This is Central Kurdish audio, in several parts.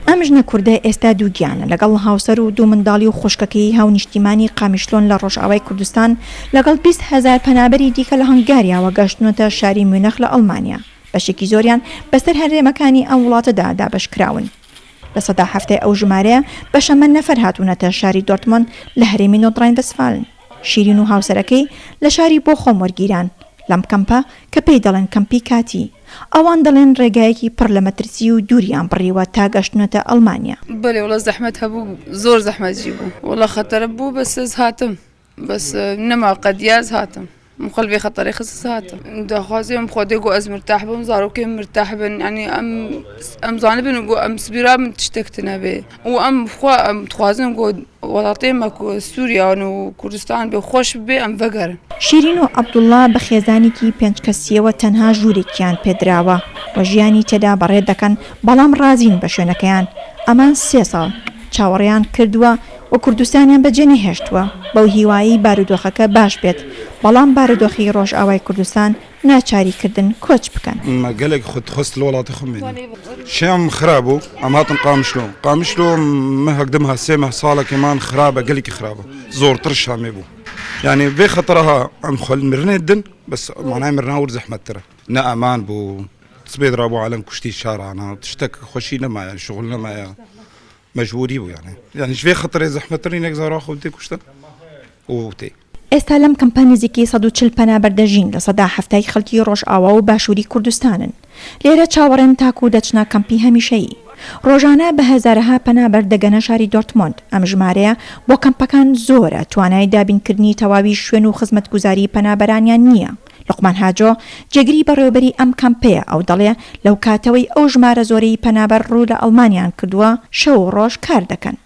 ئەم ژنە کوردە ئێستا دووگیانە، لەگەڵ هاوسەر و دوو منداڵی و خوشکەکەیی هاونیشتیمانی قامیشلۆن لە ڕۆژئاوای کوردستان، لەگەڵ بیست هەزار پەنابەری دیکە لە هەنگاریاوە گەشتوونەتە شاری میونخ لە ئەڵمانیا، بەشێکی زۆریان بەسەر هەرێمەکانی ئەم وڵاتەدا دابەشکراون. لە سەدا حەفتای ئەو ژمارەیە بەشەمەند نەفەر هاتوونەتە شاری دۆرتمۆند لە هەرێمی نۆدڕاین-ڤەستفالن. شیرین و هاوسەرەکەی لە شاری بۆخۆم وەرگیران لەم کەمپە کە پێی دەڵێن کەمپی کاتی. ئەوان دەڵێن ڕێگایەکی پڕ لە مەترسی و دووریان بڕیوە تا گەشتنەتە ئەڵمانیا. بەلێ وەڵا زەحمەت هەبوو زۆر زەحمەتژی بوو وەڵا خەتەرە بوو بەس ئەز هاتم بەس نەما قەدیاز هاتم من قەلبی خەتەرێ خست هاتم داخوازی ئەم خۆدێ گۆ ئەز مرتاح بم زارۆکێ مرتاح بن ینی ئەم ئەم زانبن و گۆ ئەم سبیرا من تشتێکتنە بێ. و ئەم خوا خوازم گۆ وەڵاتێ مەکو سووریان و کوردستان بێ خۆش بێ ئەم بەگەر شیرین و عەبدوڵڵا بە خێزانێکی پێنج کەسییەوە تەنها ژوورێکیان پێدراوە و ژیانی تێدا بەڕێ دەکەن، بەڵام ڕازین بە شوێنەکەیان، ئەمان سێ ساڵ چاوەڕێیان کردووە و کوردستانیان بەجێنەهێشتووە، بەو هیوایەی بارودۆخەکە باش بێت، بەڵام بارودۆخی ڕۆژئاوای کوردستان ناچاری کردن کۆچ بکەن. مە گەلێک خود خۆست لە وڵاتە خۆم مێنم شێم خراب و ئەم هاتم قامشلۆ قامشلۆ مە هەگدم هە سێ مە ساڵە کە مان خرابە گەلێکی خرابە زۆرتر شامێ بوو یعنی بێ خەتەرە ها ئەم خوەل مرنێت دن بەس مانای مرناور زەحمەتترە نە ئەمان بوو سبێت ڕابوو عالم کوشتی شارانە تشتەک خۆشی نەمایە شغل نەمایە مەجبوری بوو یانێ یعنی شێ خەتەرێ زەحمەتترین نەگزارا خۆ تێ کوشتن و تێ ئێستا لەم کەمپە نزیکەی سەد و چل پەنابەر دەژین، لە سەدا حەفتای خەڵکی ڕۆژئاوا و باشووری کوردستانن. لێرە چاوەڕێن تاکوو دەچنە کەمپی هەمیشەیی. ڕۆژانە بە هەزارەها پەنابەر دەگەنە شاری دۆرتمۆند، ئەم ژمارەیە بۆ کەمپەکان زۆرە، توانای دابینکردنی تەواوی شوێن و خزمەتگوزاری پەنابەرانیان نییە. لوقمان هاجۆ، جێگری بەڕێوەبەری ئەم کەمپەیە، ئەو دەڵێ، لەو کاتەوەی ئەو ژمارە زۆرەی پەنابەر ڕوو لە ئەڵمانیان کردووە، شەو و ڕۆژ کار دەکەن.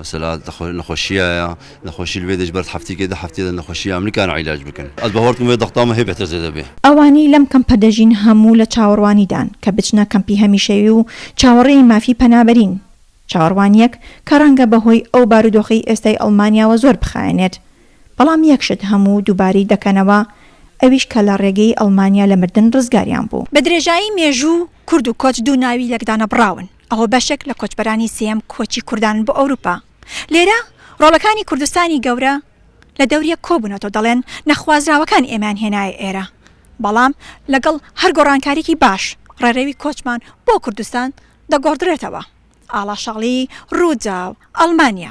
مەسەلە نەخۆشیایە نەخۆشی لوێ دەش بەرد هەفتیکێ دە هەفتێ دە نەخۆشی ئەمریکان عیلاج بکەن ئەز بە هۆرتم وێ دەختامە هێ بێتە زێدە بێ. ئەوانەی لەم کەمپە دەژین هەموو لە چاوەڕوانیدان کە بچنە کەمپی هەمیشەیی و چاوەڕێی مافی پەنابەرین، چاوەڕوانییەک کە ڕەنگە بەهۆی ئەو بارودۆخەی ئێستای ئەڵمانیاوە زۆر بخایەنێت، بەڵام یەک شت هەموو دووبارەی دەکەنەوە ئەویش کە لە ڕێگەی ئەڵمانیا لە مردن ڕزگاریان بوو. بە درێژایی مێژوو کورد و کۆچ دوو ناوی لێکدانەبڕاون. ئەوە بەشێک لە کۆچبەرانی سێیەم کۆچی کوردان بۆ ئەوروپا لێرە ڕۆڵەکانی کوردستانی گەورە لە دەوریەک کۆبونەتەوە دەڵێن نەخوازراوەکان ئێمەیان هێنایە ئێرە بەڵام لەگەڵ هەر گۆڕانکاریکی باش ڕێڕەوی کۆچمان بۆ کوردستان دەگۆڕدرێتەوە ئاڵاشاڵی ڕوداو ئەڵمانیا.